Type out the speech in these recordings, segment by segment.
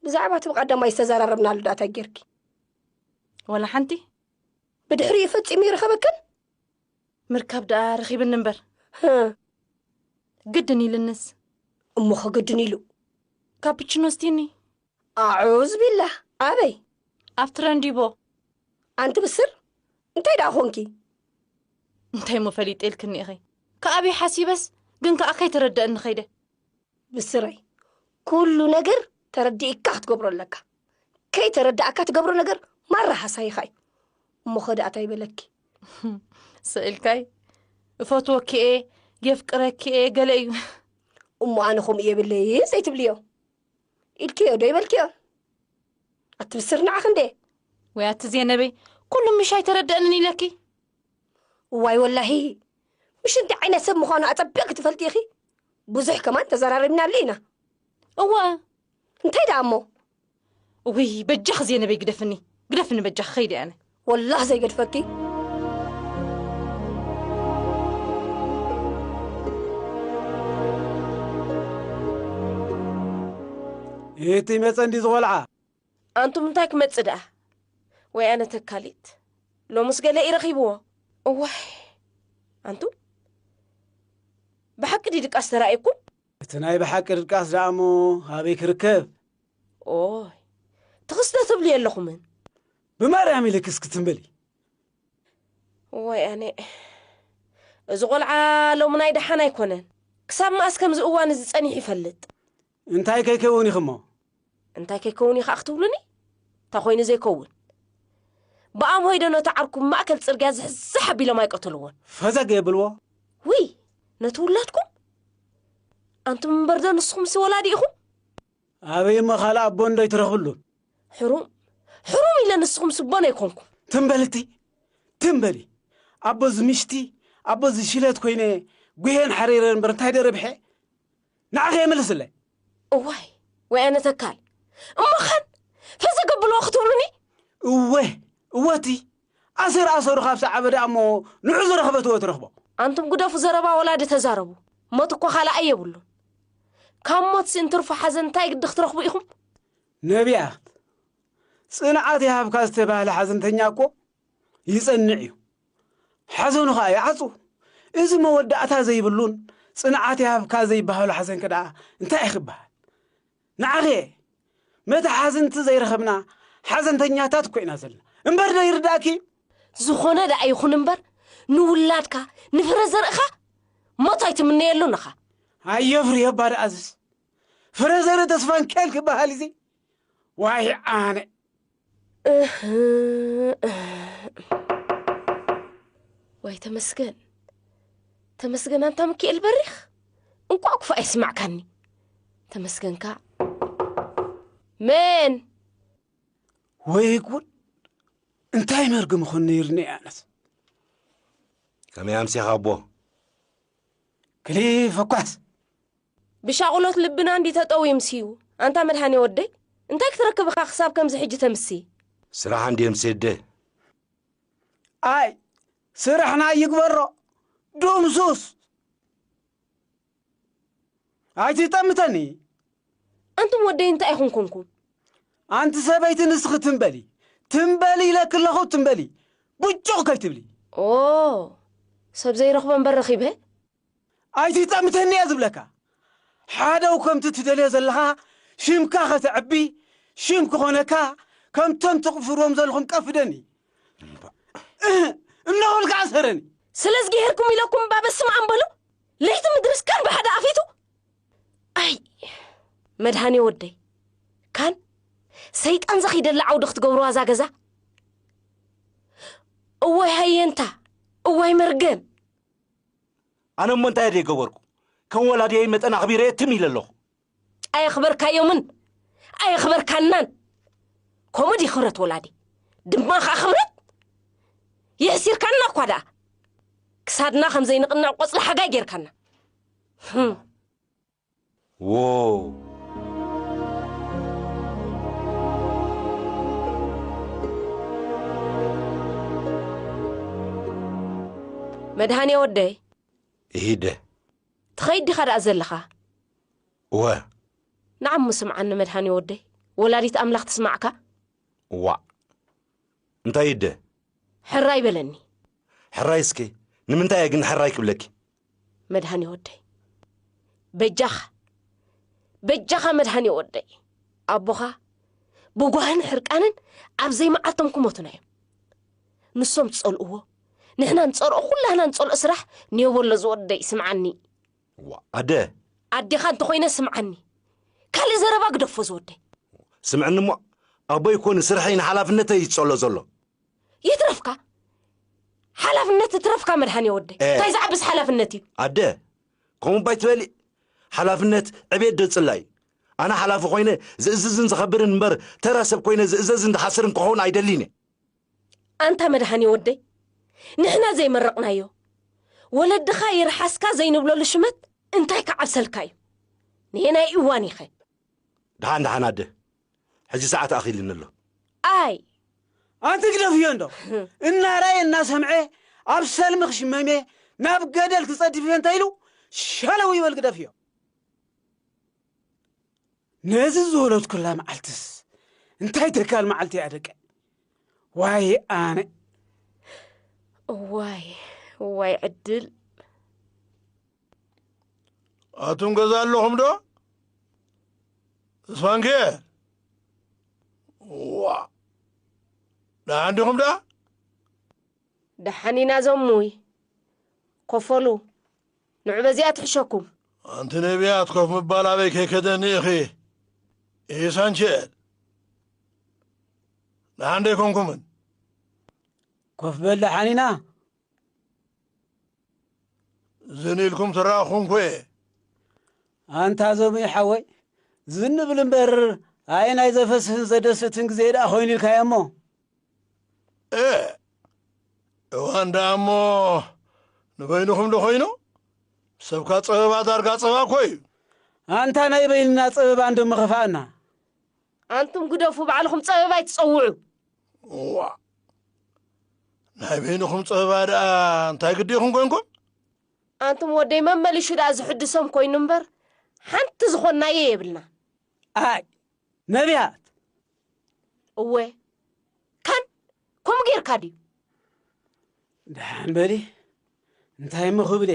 ብዛዕባ እቲ ብቐዳማይ ዝተዘራረብናሉ ዳኣ እንታይ ጌርኪ ወላ ሓንቲ ብድሕሪ እዩ ፈጺሙ ይረኸበክን ምርካብ ደኣ ረኺብኒ እምበር ግድን ኢልንስ እሞ ኸግድን ኢሉ ካፕችኖ ስቲኒ ኣዑዝ ቢላ ኣበይ ኣብ ትረንዲቦ ኣንቲ ብስር እንታይ ደኣ ኾንኪ እንታይ እሞ ፈሊጠልክኒ ኢኺ ከኣበይ ሓሲበስ ግን ከኣ ከይተረደአኒ ኸይደ ብስረይ ኩሉ ነገር ተረዲእካ ክትገብሮ ኣለካ ከይተረዳእካ ትገብሮ ነገር ማራ ሃሳይካ እዩ እሞ ከዳኣ ታይ በለኪ ሰኢልካይ እፈትወኪ እየ የፍቅረኪ እየ ገለ እዩ እሞ ኣነ ከምኡ የብለይ ዘይትብልዮ ኢልክዮ ዶ ይበልክዮ ኣትብስር ንዓኽ እንደ ወይ ኣቲ ዜነበይ ኩሉ ምሽ ኣይተረድአንን ኢለኪ እዋይ ወላሂ ምሽ እንታይ ዓይነት ሰብ ምዃኑ ኣጸቢቕ ክትፈልጢ ኢኺ ብዙሕ ከማን ተዘራሪብናሉ ኢና እወ እንታይ ደኣ እሞ እውይ በጃኺ ዜነበይ ግደፍኒ ግደፍኒ በጃኺ ኸይደ ኣነ ወላህ ዘይገድፈኪ እቲ መፀ እንዲ ዝቆልዓ ኣንቱም እንታይ ክመጽእ ደኣ ወይ ኣነ ተካሊት ሎምስ ገለ እዩ ረኺብዎ እዋይ ኣንቱም ብሓቂ ድዩ ድቃስ ተራእየኩም እቲ ናይ ብሓቂ ድቃስ ደኣ እሞ ኣበይ ክርከብ ኦይ ትኽስተ ትብሉ የለኹምን ብማርያም ኢልክስ ክትምበሊ እዋይ ኣነ እዚ ቆልዓ ሎሚ ናይ ደሓን ኣይኮነን ክሳብ መኣስ ከምዚ እዋን እዚ ጸኒሑ ይፈልጥ እንታይ ከይከውን ኢኺ'ሞ? እንታይ ከይከውን ኢኻ ክትብሉኒ? እንታይ ኮይኑ ዘይከውን? ብኣምሆይ'ዶ ነቲ ዓርኩ ብማእከል ጽርግያ ዝሕዝሕ ኣቢሎም ኣይቀተልዎን? ፈዘግ የብልዎ? ውይ! ነቲ ውላድኩም? ኣንቱም እምበር'ዶ ንስኹምሲ ወላዲ ኢኹም? ኣበይ'ሞ ካልእ ኣቦ እንዶ ኣይትረኽብሉን? ሕሩም! ሕሩም ኢለ ንስኹምሲ ኣቦን ኣይኮንኩም? ትም በል እትይ! ትም በሊ! ኣቦ ዝምሽቲ ኣቦ ዝሽለት ኮይነ ጉሄን ሓሪረን እምበር እንታይ ዶ ረቢሐ? ንዓኺ እየ መልስለይ። እዋይ ወያነ ተካል እሞ ኸን ፈዘ ገቡልዎ ክትብሉኒ። እወ እወ እቲ ኣሰር ኣሰሩ ካብ ሰዓበ ደኣ እሞ ንዑ ዝረኽበትዎ ትረኽቦ። ኣንቱም ግደፉ ዘረባ ወላዲ ተዛረቡ ሞት እኮ ካላኣይ የብሉን ካብ ሞትሲ እንትርፎ ሓዘን እንታይ ግዲ ክትረኽቡ ኢኹም። ነቢያት ጽንዓት ይሃብካ ዝተባህለ ሓዘንተኛ እኮ ይጸንዕ እዩ ሓዘኑ ኸኣ ይዓጹ እዚ መወዳእታ ዘይብሉን ጽንዓት ይሃብካ ዘይበሃሉ ሓዘን ከደኣ እንታይ እዩ ክበሃል ንዓኺ መተሓዝንቲ ዘይረኸብና ሓዘንተኛታት ኮይና ዘለና እምበር ዶ ይርዳእኪ እዩ ዝኾነ ደኣ ይኹን እምበር ንውላድካ ንፍረ ዘርእኻ ሞት ኣይትምነየሉን ኢኻ ኣየፍርዮ እባ ደኣ ዝስ ፍረ ዘርኢ ተስፋን ከል ክበሃል እዚ ዋይ ኣነ ዋይ ተመስገን ተመስገን ኣንታ ምክኤል በሪኽ እንቋዕ ክፉእ ኣይስማዕካኒ ተመስገንካ መን ወይ ጉድ እንታይ መርግም ኹን ነይርኒ ኣነት ከመይ ኣምሴኻ ኣቦ ክሊፍ እኳስ ብሻቕሎት ልብና እንድዩ ተጠውዩ ምስዩ። ኣንታ መድሃኔ ወደይ እንታይ ክትረክብ እኻ ክሳብ ከምዚ ሕጂ ተምሲ። ስራሕ እንድየ ምስ እደ። ኣይ ስርሕና ይግበሮ ዱምሱስ ኣይትጠምተኒ። ኣንቱም ወደይ እንታይ ኢኹም ኮንኩም። ኣንቲ ሰበይቲ ንስኺ ትም በሊ ትም በሊ ኢለኪ ኣለኹ ትም በሊ ቡጩቕ ከይትብሊ። ኦ ሰብ ዘይረኽቦ እምበር ረኺበ። ኣይትጠምተኒ እየ ዝብለካ ሓደው ከምቲ ትደልዮ ዘለኻ ሽምካ ከተዕቢ ሽም ክኾነካ ከምቶም ትቕፍርዎም ዘለኹም ቀፍደኒ እነኹል ከዓ ሰረኒ ስለ ዝገሄርኩም ኢለኩም እባ በስመ ኣም በሉ ለይቲ ምድርስ ካን ብሓደ ኣፊቱ ኣይ መድሃኔ ወደይ ካን ሰይጣን ዘኺደላ ዓውዲ ክትገብርዋ እዛ ገዛ እዋይ ሃየንታ እዋይ መርገም ኣነ እሞ እንታይ ዘይገበርኩ ከም ወላድየይ መጠን ኣኽቢረየ ትም ኢለ ኣለኹ ኣየኽበርካዮምን ኣየኽበርካናን ከምኡ ድዩ ክብረት ወላዲ ድማ ከዓ ክብረት የሕሲርካና እኳ ደኣ ክሳድና ከም ዘይንቕንዕ ቆፅሊ ሓጋይ ጌርካና መድሃኔ ወደይ ኢደ ትኸይድ ዲኻ ደኣ ዘለኻ እወ ንዓሞ ስምዓኒ መድሃኔ ወደይ ወላዲት ኣምላኽ ትስማዕካ ዋዕ እንታይ ኢደ ሕራይ በለኒ ሕራይ እስኪ ንምንታይ እየ ግን ሕራይ ክብለኪ መድሃኔ ወደይ በጃኻ በጃኻ መድሃኔ ወደይ ኣቦኻ ብጓህን ሕርቃንን ኣብ ዘይመዓልቶም ክሞቱና እዮም ንሶም ዝጸልእዎ ንሕና ንጸልኦ ኩላህና ንጸልኦ ስራሕ ኔቦሎ ዝወደይ ስምዓኒ ዋ ኣደ ኣዴኻ እንተኾይነ ስምዓኒ ካልእ ዘረባ ግደፎ ዝወደይ ስምዕኒ እሞ ኣቦይ እኮ ንስርሐይ ንሓላፍነተይ እዩ ዝጸሎ ዘሎ ይትረፍካ ሓላፍነት ትረፍካ መድሓንየ ወደይ እ። እንታይ ዝዓብስ ሓላፍነት እዩ ኣደ ከምኡ ባይ ትበሊ ሓላፍነት ዕቤት ዶ ጽላይ ኣነ ሓላፊ ኮይነ ዝእዝዝን ዝኸብርን እምበር ተራ ሰብ ኮይነ ዝእዘዝን ዝሓስርን ክኸውን ኣይደሊን እየ ኣንታ መድሃኔ ወደይ ንሕና ዘይመረቕናዮ ወለድኻ ይርሓስካ ዘይንብለሉ ሽመት እንታይ ክዓብሰልካ እዩ ንየናይ እዋን ኢኸ ድሓን ድሓን ኣደ ሕጂ ሰዓት ኣኺልኒ ኣሎ። ኣይ! ኣንቲ ግደፍዮ እንዶ! እናረኣየ እናሰምዐ ኣብ ሰልሚ ክሽመምየ ናብ ገደል ክጸድፍዮ እንታይ ኢሉ ሸለው ይበል ግደፍዮ። ነዚ ዝወለድኩላ መዓልትስ እንታይ ተካል መዓልቲ እያ ደቂ ዋይ ኣነ ዋይ ዋይ ዕድል ኣቱም ገዛ ኣለኹም ዶ እስፋንኬ ዋ ደሓን ዲኹም ዳ ደሓን ኢና ዘሙይ ኮፈሉ ንዑ በዚኣ ትሕሸኩም ኣንቲ ነቢያት ኮፍ ምባል ኣበይ ከይከደኒ ኢኺ ኢሳንቸል ደሓን ደይኮንኩምን ኮፍ በል ደሓን ኢና ዝን ኢልኩም ትረኣኹምኩ'የ። ኣንታ ዘሙይ ሓወይ ዝን ብል እምበር ኣየናይ ዘፈስህን ዘደስትን ግዜ ደኣ ኮይኑ ኢልካዮ እሞ። እእ እዋን ደኣ እሞ ንበይንኹም ዶ ኮይኑ ሰብካ ጸበባ ዳርጋ ጸባ እኮ እዩ። ኣንታ ናይ በይንና ጸበባ እንዶ ምኸፍኣና። ኣንቱም ግደፉ ባዕልኹም ጸበባ ኣይትጸውዑ። ዋእ ናይ በይንኹም ጸበባ ደኣ እንታይ ግዲ ኢኹም ኮንኩም ኣንቱም ወደይ መመሊሹ ደኣ ዝሕድሶም ኮይኑ እምበር ሓንቲ ዝኾንናዮ የብልና ኣይ ነቢያት እወ ካን ከምኡ ጌርካ ድዩ ደሓን በሊ እንታይ እሞ ክብለ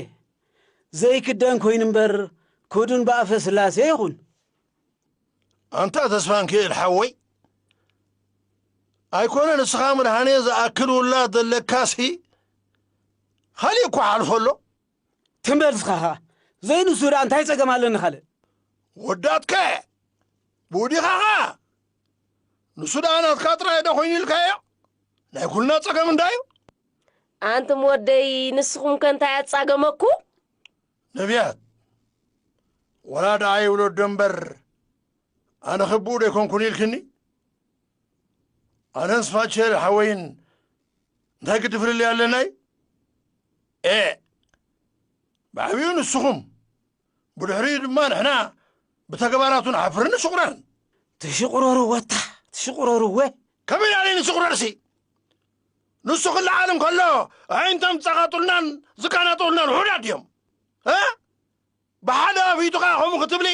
ዘይክደን ኮይኑ እምበር ክዱን ብኣፈ ስላሴ ይኹን ኣንታ ተስፋንኪኤል ሓወይ ኣይኮነ ንስኻ ምድሃኔ ዝኣክል ውላድ ዘለካሲ ኻሊእ እኳ ሓልፎ ኣሎ ትም በል እስኻ ኸኣ ዘይንሱ ደኣ እንታይ ጸገም ኣለኒ ካልእ ወዳትከ ብውዲኻ ኸኣ ንሱ ደኣ ናትካ ጥራይ ዶ ኮይኑ ኢልካዮ ናይ ኩልና ጸገም እንዳዩ ኣንቱም ወደይ ንስኹም ከ እንታይ ኣጻገመኩም ነብያት ወላ ደኣ ይውለዶ እምበር ኣነ ክብኡ ዶ ኣይኮንኩን ኢልክኒ ኣነን ስፋቸር ሓወይን እንታይ ግዲ ፍልልይ ኣለናይ ኤ ብዓብኡ ንስኹም ብድሕሪኡ ድማ ንሕና ብተግባራቱ ንሓፍርን ንሽቑረርን ትሽቑረሩ ወታ ትሽቑረሩ ወ ከመይ ናለይ ንሽቑረርሲ ንሱ ክለዓል እንከሎ ኣዒንቶም ዝጸቓጡልናን ዝቃናጠውልናን ውሑዳት ድዮም እ ብሓደ ኣፍኢቱ ከኣ ከምኡ ክትብሊ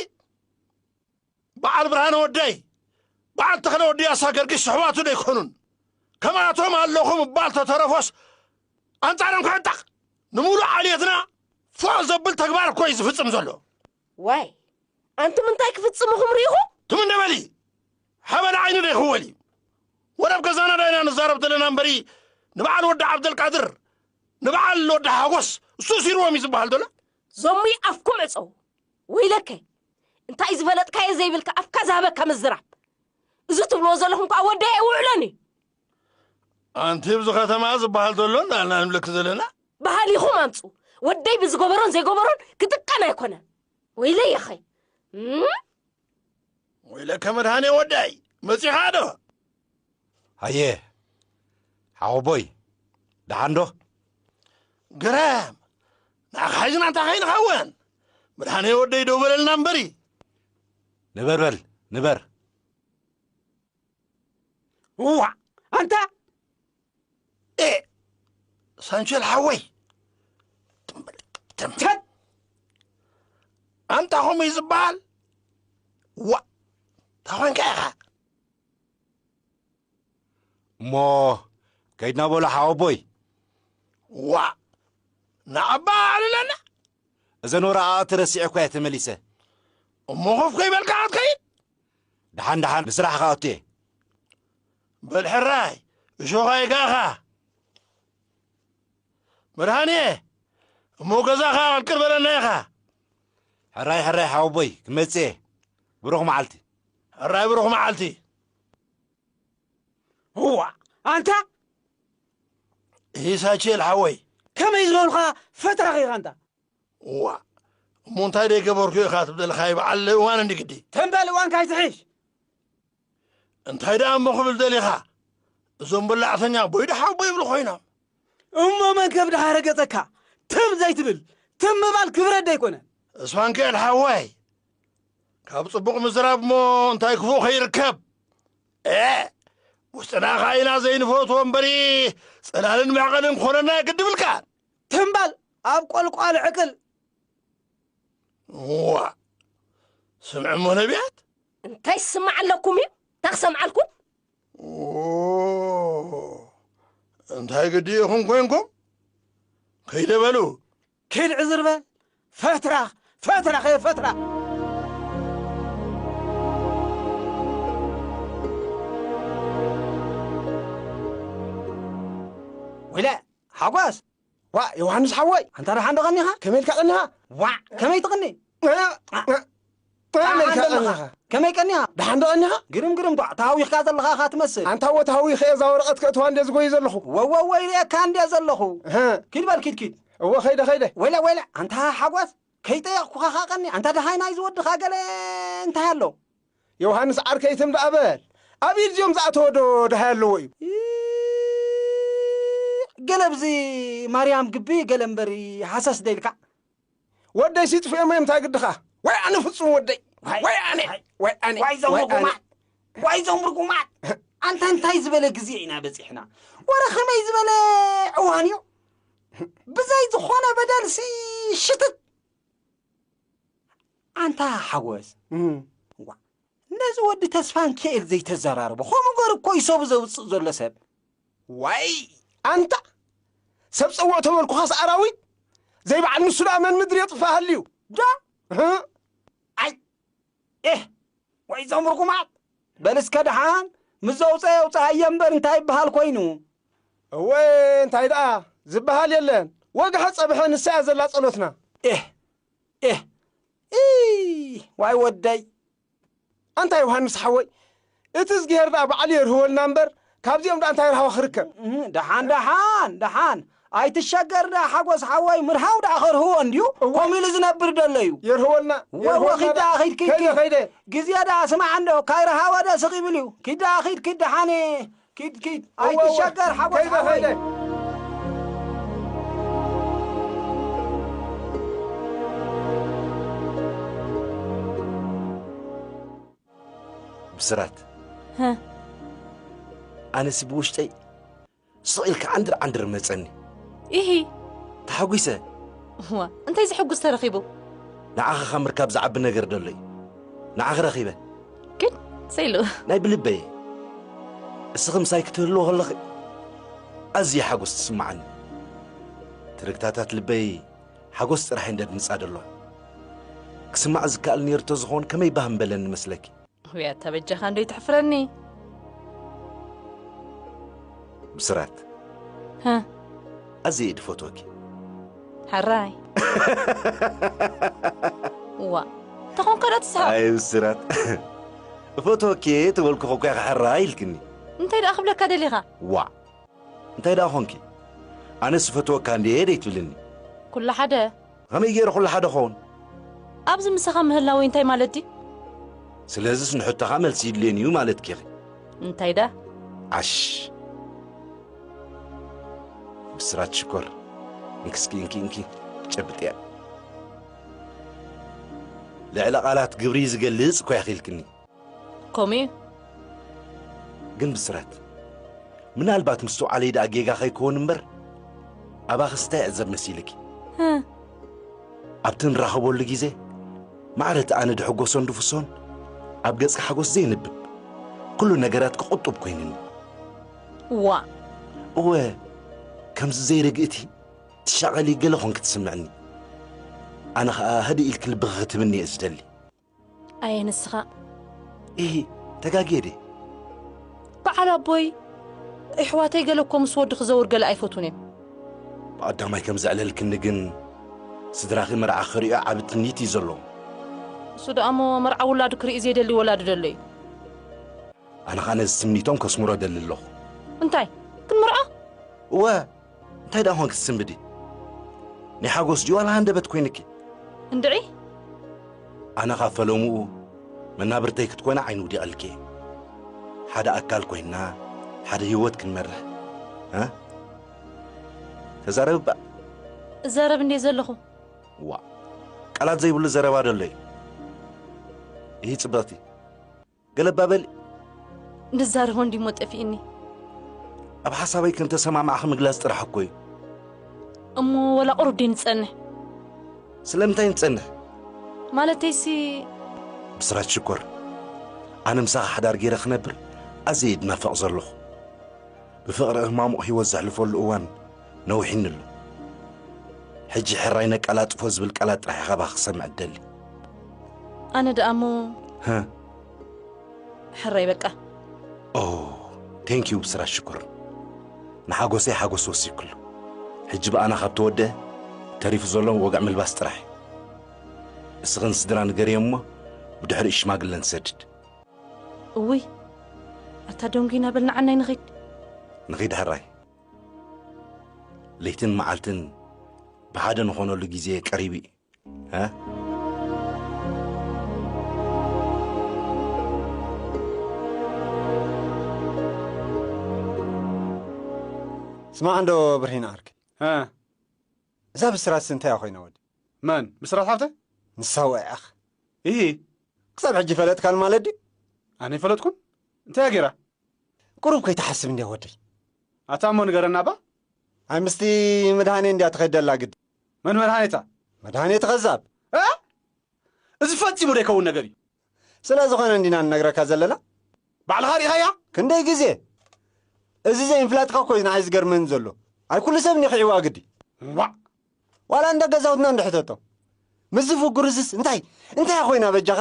በዓል ብርሃነ ወደይ በዓል ተኽለ ወዲ ያሳ ገርጊስ ኣሕዋቱ ዶ ኣይኮኑን ከምኣቶም ኣለኹ ምባል ተተረፎስ ኣንጻሮም ክዕጠቕ ንምሉእ ዓልየትና ፎእ ዘብል ተግባር እኮ እዩ ዝፍጽም ዘሎ ዋይ ኣንቱም እንታይ ክፍጽሙኹም ርኢኹም ትም እንደ በሊ ሓበን ዓይኒ ዶ ይኽወል እዩ? ወላ ኣብ ገዛና ዶ ኢና ንዛረብ ዘለና እምበሪ ንበዓል ወዲ ዓብደልቃድር ንበዓል ወዲ ሓጎስ እሱ እሲርዎም እዩ ዝበሃል ዶላ? ዘሙይ ኣፍኩም ዕጸዉ ወይለከ እንታይ ዝፈለጥካዮ ዘይብልካ ኣፍካ ዝሃበካ ምዝራብ እዚ ትብልዎ ዘለኹም ከኣ ወዲ ኣይውዕሎን እዩ ኣንቲ ብዚ ከተማ ዝበሃል ዘሎ እንዳልና ንብለኪ ዘለና በሃሊኹም ኣምጹ ወደይ ብዝገበሮን ዘይገበሮን ክጥቀም ኣይኮነን ወይለይ የኸይ ወይለከ መድሃኔ ወደይ መጺኻ ዶ? ኣየ ሓወቦይ ደሓን ዶ? ግረም ንኣኻ ሒዝና እንታይ ከይንኸውን መድሃኔ ወደይ ደው በለልና እምበሪ። ንበር በል ንበር። እዋዕ ኣንታ ኤ ሳንቸል ሓወይ ተምተት ኣንታ ከምኡ እዩ ዝበሃል ዋእ ታኾንካ ኢኻ እሞ ከይድና በሎ ሓወቦይ ዋእ ንኣባ ኣዕልለና እዘን ወረቓቕቲ ረሲዐ እኳ እየ ተመሊሰ እሞ ኮፍ ከይበልካ ክትከይድ ደሓን ደሓን ንስራሕኻ ኣቱየ። በል ሕራይ እሾኽ ኣይግኣኻ መድሃንየ እሞ ገዛኻ ቅልቅል በለና ኢኻ። ሕራይ ሕራይ ሓወቦይ ክመጽእ እየ ብሩኽ መዓልቲ። ሕራይ ብሩኽ መዓልቲ። እዋ ኣንታ ኢሳችል ሓወይ ከመይ ዝበልኻ ፈታኺ ኢኻ እንታ እዋእ እሞ እንታይ ደይገበርኩ ኢኻ ትብለልካ ይበዓል እዋን እንዲ ግዲ ተን በል እዋን ካይትሕሽ እንታይ ደኣ እሞ ክብል ደሊኻ እዞም በላዕተኛ ቦይ ደሓው ቦይ ይብሉ ኮይኖም እሞ መን ከብድኻ ኣረገጸካ ትም ዘይትብል ትም ምባል ክብረት ደይኮነ እስፋንክኤል ሓዋይ ካብ ጽቡቕ ምዝራብ እሞ እንታይ ክፉእ ከይርከብ ኤ ውስጥና ኸዓ ኢና ዘይንፈትዎ እምበሪ ጽላልን መዕቐንን ክኾነና ግድብልካ ትምባል ኣብ ቆልቋል ዕቅል ዋእ ስምዕ እሞ ነቢያት እንታይ ስማዕ ኣለኩም እዩ እንታ ክሰምዓልኩም እንታይ ግዲ ኢኹም ኮንኩም ከይደ በሉ ኪድ ዕዝርበ ፈትራ ፈትራ ከየ ፈትራ ወይለ ሓጎስ፣ ዋእ ዮውሃንስ ሓወይ ኣንታ ደሓን ዶ ቀኒኻ? ከመይ ኢልካ ቀኒኻ? ዋዕ ከመይ ትቕኒ? ደሓን ኣለኻ? ከመይ ቀኒኻ? ደሓን ዶ ቀኒኻ? ግርም ግርም ኳዕ ተሃዊኽካ ዘለኻ እኻ ትመስል። ኣንታ'ወ ተሃዊኸ'የ እዛ ወረቐት ከእትዋ እንድየ ዝጎዪ ዘለኹ። ወወወ ይርእየካ እንድየ ዘለኹ። እህ። ኪድ በል ኪድ ኪድ። እወ ከይደ ከይደ። ወይለ ወይለ ኣንታ ሓጎስ ከይጠየቕኩኻ ከኣ ቀኒ። ኣንታ ደሃይ ናይዚ ወድኻ ገለ እንታይ ኣሎ? ዮውሃንስ ዓርከይ ትም ደኣ በል ኣብ ኢድ እዚኦም ዝኣተወ ዶ ደሃይ ኣለዎ እዩ። ኢዕ ገለ ብዚ ማርያም ግቢ ገለ እምበር ሃሰስ ደይልካ። ወደይ ሲጥፍኤሞ እዮም እንታይ ግድኻ። ዋይ ኣነ ፍጹም ወደይ ዋይ ዋይ ኣነ ዋይ ዋይ ኣነ ዋይ ዞም ዋይ ኣነ ርጉማት ዋይ ዞም ርጉማት ኣንታ እንታይ ዝበለ ግዜ ኢና በጺሕና ወረ ከመይ ዝበለ እዋን እዩ ብዘይ ዝኾነ በደልሲ ሽትት ኣንታ ሓጎስ እንቋዕ ነዚ ወዲ ተስፋንኪኤል ዘይተዘራርቦ ከምኡ ገሩ እኮ እዩ ሰቡ ዘውጽእ ዘሎ ሰብ ዋይ ኣንታ ሰብ ጸውዕ ተበልኩኻስ ኣራዊት ዘይበዓል ንሱ ደኣ መን ምድሪ የጥፍእ ሃልዩ ዶ ኣይ ኤህ ወይ እዞም ርጉማት በል እስከ ደሓን ምስ ዘውፀ የውፅኣየ እምበር እንታይ ይበሃል ኮይኑ እወ እንታይ ደኣ ዝበሃል የለን ወግሐ ጸብሐ ንሳ እያ ዘላ ጸሎትና ኤህ ኤህ ኢይ ዋይ ወደይ ኣንታ ዮሃንስ ሓወይ እቲ እዝግሄር ደኣ በዓሉ የርህወልና እምበር ካብዚኦም ደኣ እንታይ ርሃዋ ክርከብ ደሓን ደሓን ደሓን ኣይትሸገር ደኣ ሓጎስ ሓወይ ምርሃው ደኣ ከርህዎ እንድዩ ከምኡ ኢሉ ዝነብር ደሎ እዩ የርህወልና ወወ ኪድ ደኣ ኪድ ኪድ ኪድ ግዜ ደኣ ስማዕ እንዶ ካይረሃወ ደስቕ ይብል እዩ ኪድ ደኣ ኪድ ኪድ ደሓን ኪድ ኪድ ኣይትሸገር ሓጎስ ሓወይ። ብስራት ኣነሲ ብውሽጠይ ስቕ ኢልካ ዓንድር ዓንድር መጸኒ ኢሂ ተሓጒሰ እዋ እንታይ ዘሐጉስ ተረኺቡ ንዓኻ ካብ ምርካብ ዝዓቢ ነገር ደሎ እዩ ንዓኺ ረኺበ ግን ሰይሉ ናይ ብልበይ እስኺ ምሳይ ክትህልዎ ከለኺ ኣዝየ ሓጎስ ትስምዓኒ ትርግታታት ልበይ ሓጎስ ጥራሕ እየን ደድምጻ ደሎ ክስማዕ ዝከኣል ነይሩ ተዝኾን ከመይ ባህ ምበለኒ መስለኪ ውያታ በጃኻ እንዶ ይትሕፍረኒ ብስራት ሀ ኣዝየ እየ ድፈትወኪ ሕራይ ዋ ተኾን ከዳ ትስሓቕ ኣይ ብስራት እፈትወኪ እየ ተበልኩ ኾኳ ኢኻ ሕራይ ኢልክኒ እንታይ ደኣ ክብለካ ደሊኻ ዋዕ እንታይ ደኣ ኾንኪ ኣነስ እፈትወካ እንድየ ደይትብልኒ ኩሉ ሓደ ኸመይ ገይረ ኹሉ ሓደ ኸዉን? ኣብዚ ምሳኻ ምህላወይ እንታይ ማለት ድዩ? ስለዝስ ንሕቶኻ መልሲ ይድልየኒ እዩ ማለትኪ ኢኺ? እንታይ ደኣ? ዓሽ! ብስራት ሽኮር እንኪ እስኪ እንኪ እንኪ ጨብጥያ። ልዕሊ ቃላት ግብሪ ዝገልጽ እኮ ኢኺ ኢልክኒ። ከምኡ'ዩ። ግን ብስራት፣ ምናልባት ምስትውዓለይ ደኣ ጌጋ ከይከውን እምበር፣ ኣባኺስ እንታይ እዕዘብ መሲልኪ? ህ! ኣብቲ እንራኸበሉ ግዜ፣ ማዕረ እቲ ኣነ ድሕጎሶን ድፍሶን፣ ኣብ ገጽኪ ሓጎስ ዘይንብብ፣ ኩሉ ነገራትኪ ቁጡብ ኮይንኒ። ዋእ! እወ! ከምዚ ዘይርግእቲ፣ ትሻቐሊ ገለ ኮንኪ ትስምዕኒ። ኣነ ከኣ ህድእ ኢልኪ ልብኺ ክትህብኒ እየ ዝደሊ። ኣየ ንስኻ ኢሂ ተጋግየ ድየ? በዓል ኣቦይ እሕዋተይ ገለ እኮ ምስ ወዲ ክዘውር ገለ ኣይፈቱን እዮም። ብቐዳማይ ከም ዘዕለልክኒ ግን ስድራኺ መርዓ ክርእዩ ዓቢ ትምኒት እዩ ዘለዎም። እሱ ደኣ እሞ መርዓ ውላዱ ክርኢ ዘይደሊ ወላዲ ደሎ እዩ። ኣነ ኸኣ ነዚ ትምኒቶም ከስምሮ እደሊ ኣለኹ። እንታይ ክንምርዖ? እወ እንታይ ደኣ ኾንኪ ትስንብዲ? ናይ ሓጎስ ድዩ ዋላ ሃንደበት ኮይንኪ? እንድዒ ኣነ ካብ ፈለምኡ መናብርተይ ክትኮና ዓይኒ ውዲቐልኪ እየ። ሓደ ኣካል ኮይንና ሓደ ህይወት ክንመርሕ እ ተዛረቢ ባእ እዛረብ እንዴ ዘለኹ ዋ ቃላት ዘይብሉ ዘረባ ደሎ እዩ። ይህ ጽብቕቲ ገለባ በሊ። ንዛረቦ እንዲሞ ጠፊእኒ። ኣብ ሓሳበይ ከም ተሰማማዕኺ ምግላጽ ጥራሕ እኮ እዩ። እሞ ወላ ቁሩብ ደይ ንጸንሕ። ስለምንታይ ንጸንሕ? ማለተይሲ ብስራት ሽኮር፣ ኣነ ምሳኻ ሓዳር ገይረ ክነብር ኣዝየ እየ ድናፈቕ ዘለኹ። ብፍቕሪ ህማሙቕ ህይወት ዘሕልፈሉ እዋን ነዊሒኒ ኣሎ። ሕጂ ሕራይ ነቀላጥፎ ዝብል ቃላት ጥራሕ ኢኻ ባኽ ክሰምዕ እደሊ። ኣነ ደኣ እሞ ሀ ሕራይ በቃ ኦ ቴንክ ዩ ብስራት ሽኮር ንሓጎሰይ ሓጎስ ወሲክሉ ሕጂ ብኣና ካብ ተወድአ ተሪፉ ዘሎ ወግዕ ምልባስ ጥራሕ እዩ እስኽን ስድራ ንገርዮም እሞ ብድሕሪኡ ሽማግለ ንሰድድ እውይ ኣታ ደንጒና በል ንዓናይ ንኺድ። ንኺድ ሕራይ ለይትን መዓልትን ብሓደ ንኾነሉ ግዜ ቀሪቡ እዩ። ስማዕ እንዶ ብርሂን ዓርከይ እዛ ብስራትሲ እንታይ እያ ኮይና ወዲ? መን? ብስራት ሓብተ? ንሳ ወዒዓኽ? ኢሂ! ክሳብ ሕጂ ፈለጥካን ማለት ድዩ? ኣነ ኣይፈለጥኩን? እንታይ እያ ገይራ? ቁሩብ ከይትሓስብ እንድያ ወደይ። ኣታ እሞ ንገረና እባ? ኣይ ምስቲ መድሃኔ እንድያ ትኸይድ ዘላ ግዲ። መን መድሃኔ እታ? መድሃኔ እቲ ከዛብ። እእ! እዚ ፈጺሙ ዘይከውን ነገር እዩ። ስለ ዝኾነ እንዲና ንነግረካ ዘለና። ባዕልኻ ርኢኻያ ክንደይ ግዜ። እዚ ዘይምፍላጥካ እኮዩ ንዓይ ዝገርመኒ ዘሎ። ኣይ ኩሉ ሰብ ኒኺዕዋ ግዲ። ዋእ! ዋላ እንዳ ገዛውትና እንዶ ሕተቶ። ምስዚ ፍጉርዝስ እንታይ እንታያ ኮይና በጃኻ?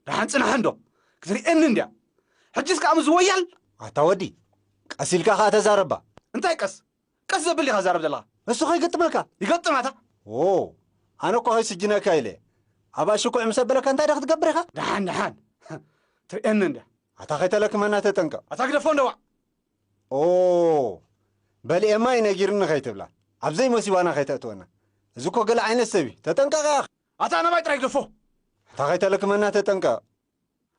ደሓን ጽናሕ እንዶ ክትርእየኒ እንድያ። ሕጅስ ከኣ ምስዚ ወያል። ኣታ ወዲ ቀስ ኢልካ ከኣ ተዛረባ። እንታይ ቀስ? ቀስ ዘብል ዲኻ ትዛረብ ዘለኻ እሱ ከይገጥመካ ይገጥም ኣታ። ዎው ኣነ እኮ ከይስጅነካ ኢለ ኣብ ኣሽኩዕ ምስ ኣበለካ እንታይ ዶ ክትገብር ኢኻ። ደሓን ደሓን ትርእየኒ እንድያ። ኣታ ከይተለክመና ተጠንቀቕ። ኣታ ግደፎ እንደዋዕ። ኦው በል ኤማ እዩ ነጊርኒ ከይትብላ ኣብ ዘይመሲባና ከይተእትወና እዚ እኮ ገለ ዓይነት ሰብ እዩ ተጠንቀቕ ያኣኺ። ኣታ ናባይ ጥራይ ግደፎ። ኣታ ከይተለክመና ተጠንቀቕ።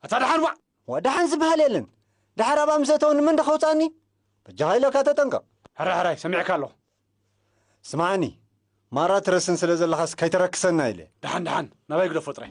ኣታ ደሓን ዋእ! ዋእ ደሓን ዝበሃል የለን ደሓር ኣብኣ ምስ ኣተወ ንመን ዶ ከውጽኣኒ በጃኻ ኢለካ ተጠንቀቕ። ሕራይ ሕራይ ሰሚዐካ ኣለኹ። ስምዓኒ ማራ ትረስን ስለ ዘለኻስ ከይተረክሰና ኢለ። ደሓን ደሓን ናባይ ግደፎ ጥራይ።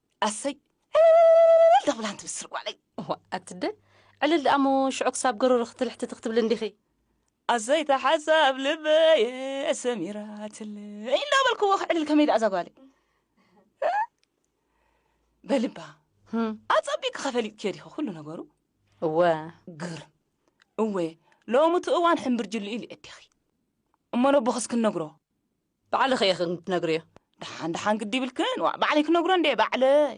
ኣሰይ ዕልልልልልል ደብላን ትብስር ጓለይ። እዋ ኣትደ ዕልል ደኣ እሞ ሽዑ ክሳብ ገሮሮ ክትልሕትቲ ክትብሊ እንዲኺ። ኣሰይ እታ ሓሳብ ልበየ ሰሚራትለይ እንዳበልክዎ ክዕልል ከመይ ደኣ እዛ ጓለይ እ? በልባ ህም፣ ኣጸቢቅኪ ከፈሊጥክዮ ዲኺ ኩሉ ነገሩ እወ ግርም እወ ሎሚ እቲ እዋን ሕምብርጅልኡ ኢሉ የዲኺ እሞ ነቦኽስ ክንነግሮ ባዕልኺ ኢኺ ክትነግርዮ። ደሓን ደሓን ግዲ ይብልክን ዋ ባዕለይ ክነግሮ እንዴ ባዕለይ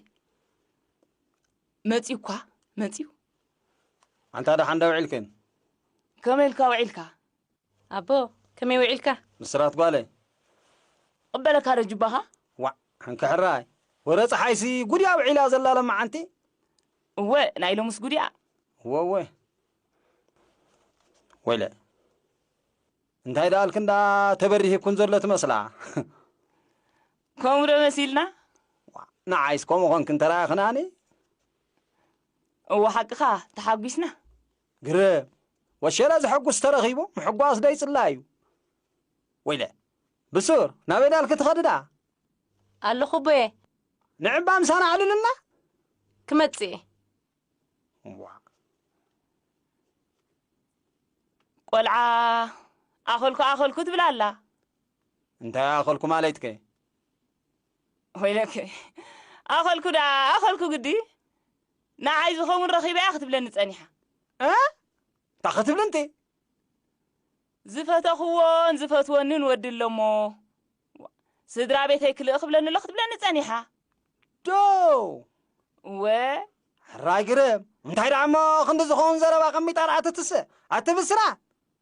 መፅዩ እኳ መፅዩ ኣንታ ደሓን ዶ ውዒልክን ከመይ ኢልካ ውዒልካ ኣቦ ከመይ ውዒልካ ምስራት ጓለይ ቅበለካ ዶ ጅባኻ ዋዕ ሕንክሕራይ ወረ ፀሓይሲ ጉድያ ውዒላ ዘላ ለመዓንቲ እወ ናይ ሎምስ ጉድያ እወ እወ ወይለ እንታይ ደኣልክን ደኣ ተበሪሂኩን ዘሎ ትመስላ። ከምኡ ዶ መሲልና? ንዓይስ ከምኡ ኮንክን ተራእኽናኒ። እወ ሓቅኻ ተሓጒስና። ግርም! ወሸላ ዘሐጉስ ተረኺቡ ምሕጓስ ዶ ይጽላ እዩ? ወይለ! ብሱር ናበይ ደኣልኪ ትኸዲ ደኣ? ኣለኹ ኣቦየ። ንዕባ ምሳና ኣዕልሉልና። ክመጽእ እየ። ዋእ። ቆልዓ ኣኸልኩ ኣኸልኩ ትብል ኣላ። እንታይ ኣኸልኩ ማለትከ? ወይለከ ኣኸልኩ ደኣ ኣኸልኩ ግዲ ንዓይ ዝኸውን ረኺበ እያ ክትብለኒ ጸኒሓ። እንታይ ክትብልንቲ? ዝፈተኽዎን ዝፈትወንን ወዲ ኣሎሞ ስድራ ቤተይ ክልእ ክብለኒ ኣሎ ክትብለኒ ጸኒሓ። ዶው! እወ! ሕራይ ግርም! እንታይ ደኣ እሞ ክንዲ ዝኸውን ዘረባ ኣቐሚጣ ደኣ ትትስእ! ኣቲ ብስራት!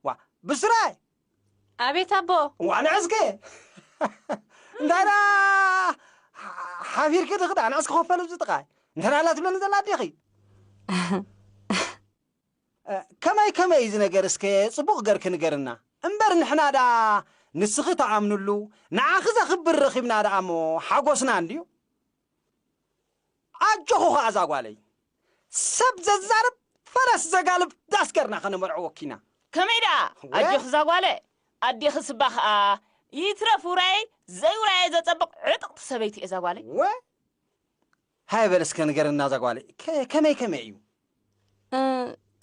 ዋ! ብስራይ! ኣቤት ኣቦ! ዋ ንዕስኪ! እንታይ ደኣ ሓፊርኪ ድኺ ደኣ ንዕስኪ ኮፍ በሊ ኣብዚ ጥቓይ! እንተደኣ ኣላ ትብለኒ ዘላ ኣዴኺ! ከመይ ከመይ እዩ እዚ ነገር እስከ ጽቡቅ ገርኪ ንገርና እምበር ንሕና ደኣ ንስኺ ትኣምንሉ ንዓኺ ዘኽብር ረኺብና ደኣ እሞ ሓጎስና እንድዩ ኣጆኺ ኸኣ እዛ ጓለይ ሰብ ዘዛርብ ፈረስ ዘጋልብ ዳስ ገርና ከነመርዕወኪ ኢና ከመይ ደኣ ኣጆኺ እዛ ጓለ ኣዴኺ ስባ ኸኣ ይትረፍ ውራየይ ዘይውራየይ ዘጸብቅ ዕጥቅቲ ሰበይቲ እየ እዛ ጓለይ ወ ሃየ በል እስከ ንገርና እዛ ጓል ከ- ከመይ ከመይ እዩ እ፣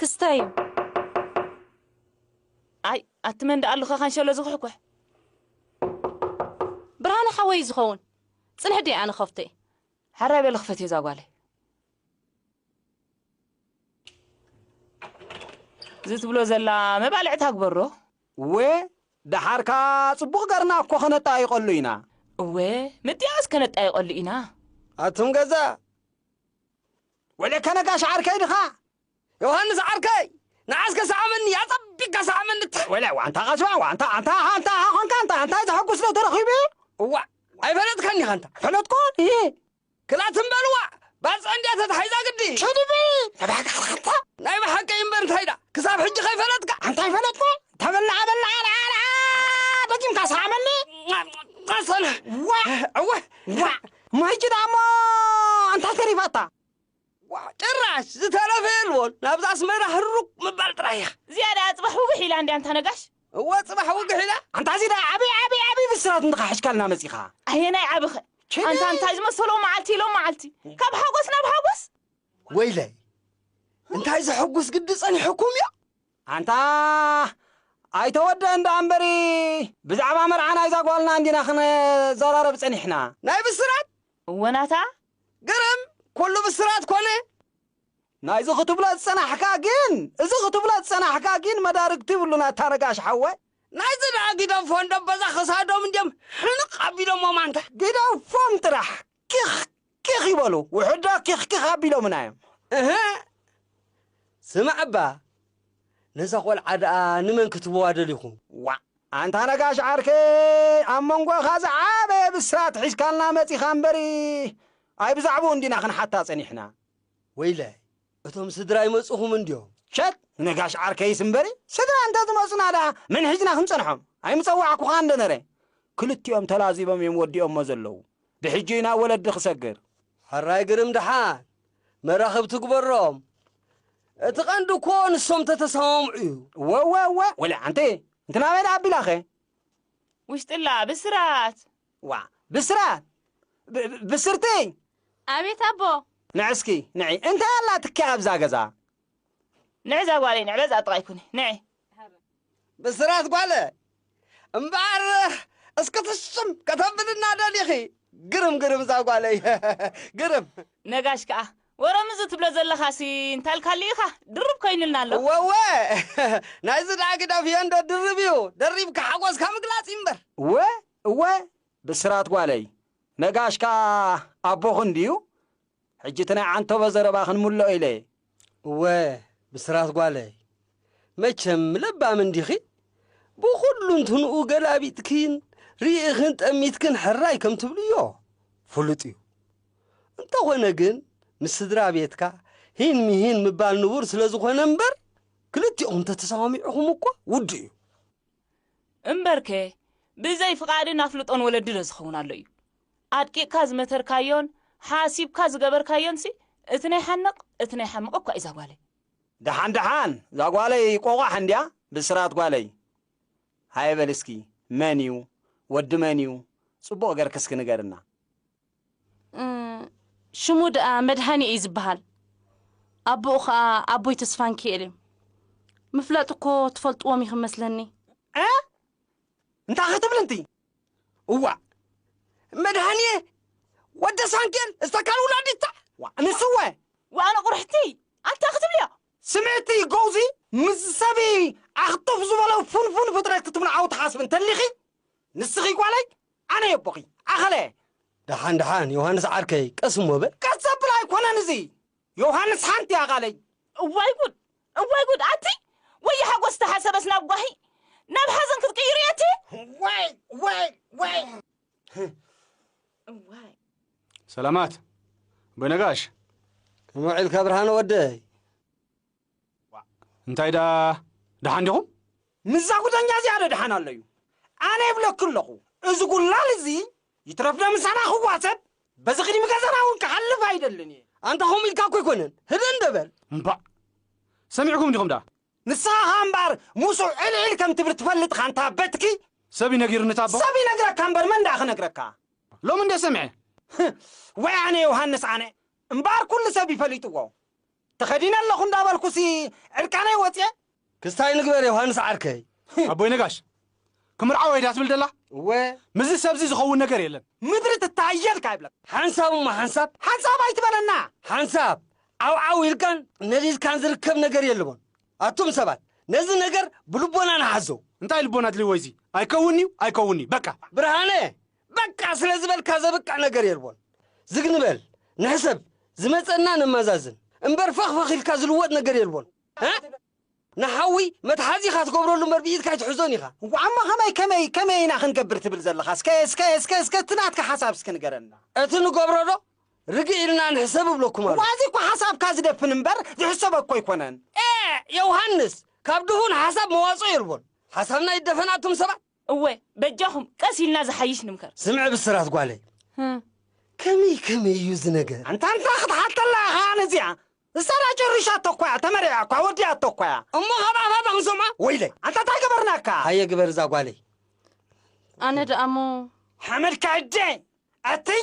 ክስታይ እዩ ኣይ ኣቲ መን ደኣ ኣሉካ ካንሸሎ ዝኩሕኩሕ ብርሃነ ሓወይ እዩ ዝኸውን ፅንሕ ድየ ኣነ ከፍቶ እየ ሓራይ በል ክፈትዮ እዛ ጓለይ እዚ ትብሎ ዘላ መባልዕታ ግበሮ እወ ደሓር ከኣ ጽቡቕ ገርና እኮ ከነጣይቐሉ ኢና። እወ ምጥያስ ከነጣይቐሉ ኢና። ኣቱም ገዛ ወለከ ነጋሽ ዓርከይ ድኻ? ዮሃንስ ዓርከይ ንዓስከ ሰዓመኒ ኣጸቢቅካ ሰዓመኒ ትሕ ወለ ዋንታ ቀስባ ዋንታ ኣንታ ኣንታ ኮንካ ኣንታ ኣንታ ዘሐጉስ ዶ ተረኺቡ እዋእ ኣይፈለጥካኒ ሃንታ ፈለጥኩ ክላ ትም በልዋ ባጽዕ እንድያ ተታሒዛ ግዲ። ቴዲ በል ተባዕካ ኢኻ ኣታ። ናይ ብሓቂ እዩ እምበር እንታይ ድኣ ክሳብ ሕጂ ከይፈለጥካ። ኣንታ ኣይፈለጥኩ ተበላዓ በላዓ ለዓለዓ ደጊምካ ስዓመኒ። ኣሰና ዋእ እወ ዋእ ማይጭዳ እሞ እንታይ ተሪፋታ። ዋእ ጭራሽ ዝተረፈ የልቦን ናብዚ ኣስመራ ህሩግ ምባል ጥራይ ኢኻ። ዝያዳ ጽባሕ ውግሕ ኢላ እንድያ ኣንታ ነጋሽ። እወ ጽባሕ ውግሕ ኢላ። ኣንታ እዚ ደኣ ዓቢ ዓቢ ዓቢ ብስራት እንድኻ ሕሽካልና መጺኻ። ኣየናይ ዓቢኸ ኣንታ እንታይ ዝመሰሎ መዓልቲ ሎም መዓልቲ ካብ ሓጎስ ናብ ሓጎስ። ወይለይ እንታይ ዘሕጉስ ግዲ ጸኒሑኩምዮ። ኣንታ ኣይተወደኣን ደኣ እምበሪ ብዛዕባ መርዓ ናይዛ ጓልና እንዲና ክንዘራረብ ጸኒሕና። ናይ ብስራት። እወ ናታ ግርም ኩሉ ብስራት ኮነ። ናይዚ ክትብሎ ዝጸናሕካ ግን እዚ ክትብሎ ዝጸናሕካ ግን መዳርግቲ ይብሉን ኣታ ነጋሽ ሓወይ። ናይዚ ደኣ ጊደፎ እንዶ በዛ ክሳዶም እንድዮም ሕንቕ ኣቢሎሞም ኣንታ። ግደፎም ጥራሕ ኪኽ ኪኽ ይበሉ ውሑድ ዶ ኪኽ ኪኽ ኣቢሎምና እዮም። እህ ስማዕባ ነዛ ቆልዓ ደኣ ንመን ክትህብዋ ደሊኹም ዋእ። ኣንታ ነጋሽ ዓርከይ ኣብ መንጎኻ ዝዓበየ ብስራት ሒዝካልና መጺኻ እምበሪ ኣይ ብዛዕብኡ እንዲና ክንሓታ ጸኒሕና። ወይላይ እቶም ስድራ ኣይመጹኹምን ድዮም? ሸጥ ነጋሽ ዓርከይስ እምበሪ ስድራ እንተ ዝመጹና ደኣ መን ሒዝና ክንጸንሖም? ኣይምጸዋዕኩኻን ዶ ነረ? ክልቲኦም ተላዚቦም እዮም ወዲኦሞ ዘለዉ። ብሕጂ ናብ ወለዲ ክሰግር። ሕራይ ግርም ድሓን መራኽብቲ ግበሮም እቲ ቀንዲ እኮ ንሶም ተተሰማምዑ እዩ። ወወወ ወለ ሓንቲ እንቲ ናበይ ደኣ ኣቢላኸ ውሽጥላ ብስራት ዋ ብስራት ብስርትይ ኣቤት ኣቦ ንዕስኪ ንዒ እንታይ ኣላትኪ ኣብዛ ገዛ ንዕዛ ጓለይ ንዕበዝ ኣጥቓይ ኩኒ ንዒ ብስራት ጓለ እምበኣር እስኪ ትሽም ከተብልና ደሊኺ ግርም ግርም እዛ ጓለይ ግርም ነጋሽ ከኣ ወረም እዚ ትብሎ ዘለኻሲ እንታልካሉ ኢኻ ድርብ ኮይኑልና ኣሎ። እወወ ናይዚ ደኣ ግደፍ ዮንዶ ድርብ እዩ ደሪብካ ሓጎስካ ምግላጽ እዩ እምበር። እወ እወ ብስራት ጓለይ ነጋሽ ከኣ ኣቦኺ እንድዩ ሕጂ እቲ ናይ ዓንተቦ ዘረባ ክንምልኦ ኢለ እየ። እወ ብስራት ጓለይ፣ መቸም ለባም እንዲኺ፣ ብኹሉንትንኡ ገላቢጥክን ርኢኽን ጠሚትክን ሕራይ ከም ትብልዮ ፍሉጥ እዩ። እንተኾነ ግን ምስ ስድራ ቤትካ ሂን ምሂን ምባል ንቡር ስለ ዝኾነ እምበር ክልቲእኹም ተተሰማሚዕኹም እኳ ውዱእ እዩ። እምበርከ ብዘይ ፍቓድን ኣፍልጦን ወለዲ ዶ ዝኸውን ኣሎ እዩ? ኣድቂቕካ ዝመተርካዮን ሓሲብካ ዝገበርካዮንሲ እቲ ናይ ሓንቕ እቲ ናይ ሓምቕ እኳ እዩ ዛጓለይ። ደሓን ደሓን ዛጓለይ ቆቛሕ እንድያ ብስራት ጓለይ። ሃየ በልስኪ መን እዩ ወዲ መን እዩ ጽቡቕ ገርኪ እስኪ ንገርና። ሽሙ ደኣ መድሃኔ እዩ ዝበሃል ኣቦኡ ኸኣ ኣቦይ ተስፋንኪኤል እዮም ምፍላጥ እኮ ትፈልጥዎም ኢኹም መስለኒ እ እንታይ ክትብል እንቲ እዋእ መድሃንየ ወደ ሳንኬል እስተካል ውላዲታ ንስወ ዋኣነ ቁርሕቲ ኣንታ ክትብልዮ ስምዕቲ ጎውዚ ምስ ሰቢ ኣኽጡፍ ዝበሎ ፉንፉን ፍጥረት ክትምንዓው ትሓስብ እንተሊኺ ንስኺ ጓለይ ኣነ የቦኺ ኣኸለ። ደሓን ደሓን ዮሃንስ ዓርከይ ቀስ እሞ በል። ቀስ ዘብል ኣይኮነን እዚ ዮሃንስ ሓንቲ እያ ቃለይ። እዋይ ጉድ እዋይ ጉድ ኣቲ ወየ ሓጎስ ዝተሓሰበስ ናብ ጓሂ ናብ ሓዘን ክትቅይሩ እየ እቲ ዋይ ዋይ ዋይ እዋይ ሰላማት ኣቦይ ነጋሽ። ከመይ ውዒልካ ብርሃነ ወደይ? ዋእ እንታይ ደኣ ደሓን ዲኹም? ምስዛ ጉደኛ እዚኣ ዶ ደሓን ኣሎ'ዩ? ኣነ እብለኪ ኣለኹ፣ እዚ ጉላል እዚ ይትረፍዶ ምሳና ክዋሰብ በዚ ቅድሚ ገዛና እውን ክሓልፍ ኣይደልን እየ። ኣንታ ከምኡ ኢልካ እኮ ኣይኮነን፣ ህድእ እንዶ በል። እምባእ ሰሚዕኩም ዲኹም ደኣ? ንስኻ ኸኣ እምበኣር ምስኡ ዕልዒል ከም ትብል ትፈልጥ ኢኻ ኣንታ በትኪ። ሰብ እዩ ነጊሩኒ ታቦ። ሰብ ይነግረካ እምበር መን ደኣ ክነግረካ። ሎሚ እንድየ ሰሚዐ። ወይ ኣነ ዮሃንስ ኣነ እምበኣር ኩሉ ሰብ እዩ ፈሊጥዎ። ተኸዲነ ኣለኹ እንዳበልኩሲ ዕርቃነይ ወጽየ? ክስታይ ንግበር ዮሃንስ ዓርከይ። ኣቦይ ነጋሽ ክምርዓወ እየ ድያ ትብል ደላ? እወ። ምስዚ ሰብዚ ዝኸውን ነገር የለን። ምድሪ ትተሃየልካ ይብለካ። ሓንሳብ እሞ ሓንሳብ። ሓንሳብ ኣይትበለና። ሓንሳብ ዓውዓው ኢልካን ነዲድካን ዝርከብ ነገር የልቦን። ኣቱም ሰባት ነዚ ነገር ብልቦና ንሓዞ። እንታይ ልቦና ኣድልይዎ እዚ? ኣይከውንንዩ ኣይከውንንዩ በቃ። ብርሃነ በቃ ስለ ዝበልካ ዘብቅዕ ነገር የልቦን። ዝግ ንበል፣ ንሕሰብ፣ ዝመጸና ነማዛዝን። እምበር ፈኽ ፈኽ ኢልካ ዝልወጥ ነገር የልቦን። እ! ንሓዊ መትሓዚ ኢኻ ትገብረሉ እምበር ብኢድካ ኣይትሕዞን ኢኻ። እሞ ከመይ ከመይ ከመይ ኢና ክንገብር ትብል ዘለኻ? እስከ እስከ እስከ እስከ እቲ ናትካ ሓሳብ እስከ ንገረና። እቲ ንገብሮ ዶ ርግእ ኢልና ንሕሰብ እብለኩም እሞ ኣለኹ። ኣዚ'ኳ ሓሳብካ ዝደፍን እምበር ዝሕሰብ እኮ ኣይኮነን። ኤእ! የውሃንስ፣ ካብ ድሁል ሓሳብ መዋጽኦ የልቦን። ሓሳብና ይደፈን ኣቱም ሰባት። እወ በጃኹም ቀስ ኢልና ዝሓይሽ ንምከር። ስምዒ ብስራት ጓለይ፣ ከመይ ከመይ እዩ እዚ ነገር? ኣንታ ኣንታ ክትሓተላ ኢኻ ኣነ እዚኣ ንሳ ድኣ ጨሪሻቶ እኮ እያ ተመሪዓ እኳ ወዲኣቶ እኳ እያ እሞ ካብ ኣፋ ዶ ክንሰምዖ ወይለይ ኣንታ እንታይ ገበርናካ። ሃየ ግበር እዛ ጓለይ። ኣነ ድኣ እሞ ሓመድካ እደ ኣትይ